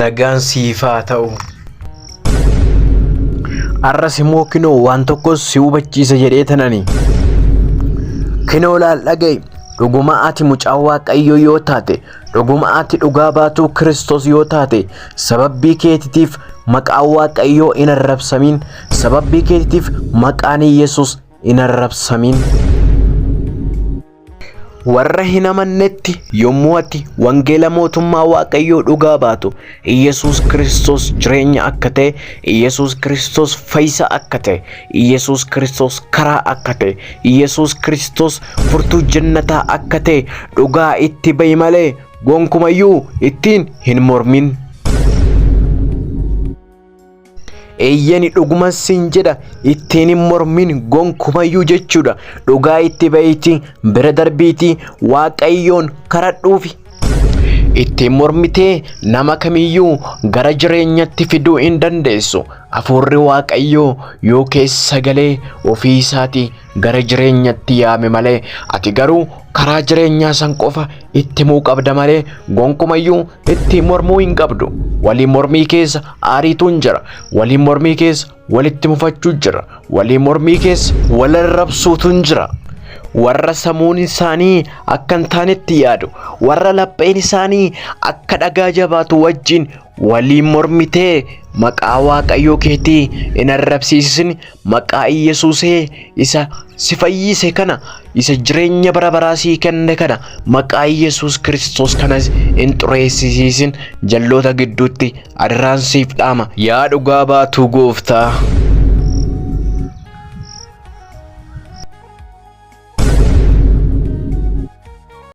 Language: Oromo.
Nagaan siif haa ta'u. Arras immoo kinoo waan tokkos si hubachiisa jedhee tanani. Kinoo laal dhaga'i. Dhuguma ati mucaa waaqayyoo yoo taate, dhuguma ati dhugaa baatuu Kiristoos yoo taate, sababii keetitiif maqaa waaqayyoo hin arrabsamiin, sababii keetitiif maqaan Yesuus hin arrabsamin. Warra hin amannetti yommuu ati wangeela mootummaa Waaqayyoo dhugaa baatu, Iyyasuus Kiristoos jireenya akka ta'e, Iyyasuus Kiristoos fayyisa akka ta'e, Iyyasuus Kiristoos karaa akka ta'e, Iyyasuus Kiristoos furtuu jannataa akka ta'e dhugaa itti ba'i malee gonkumayyuu ittiin hin mormin. eeyyani dhuguman sin jedha ittiin hin mormin gonkumayyuu jechuudha dhugaa itti ba'iitii bira darbiitii waaqayyoon karadhuufi ittiin mormitee nama kamiyyuu gara jireenyatti fiduu hin dandeessu afuurri waaqayyoo yoo keessa galee ofii isaatii gara jireenyatti yaame malee ati garuu karaa jireenyaa san qofa itti himuu qabda malee gonkumayyuu itti mormuu hin qabdu. Walii mormii keessa aariituun jira. Walii mormii keessa walitti mufachuu jira. Walii mormii keessa wal arrabsuutuun jira. Warra samuun isaanii akka hin taanetti yaadu, warra lapheen isaanii akka dhagaa jabaatu wajjin Waliin mormitee maqaa Waaqayyoo keetii in arrabsiisisin maqaa Iyyasuusee isa si fayyise kana isa jireenya bara baraa sii kenne kana maqaa Iyyasuus Kiristoos kanas in xureessisiisin jalloota gidduutti adaraan siif dhaama. Yaa dhugaa baatuu gooftaa.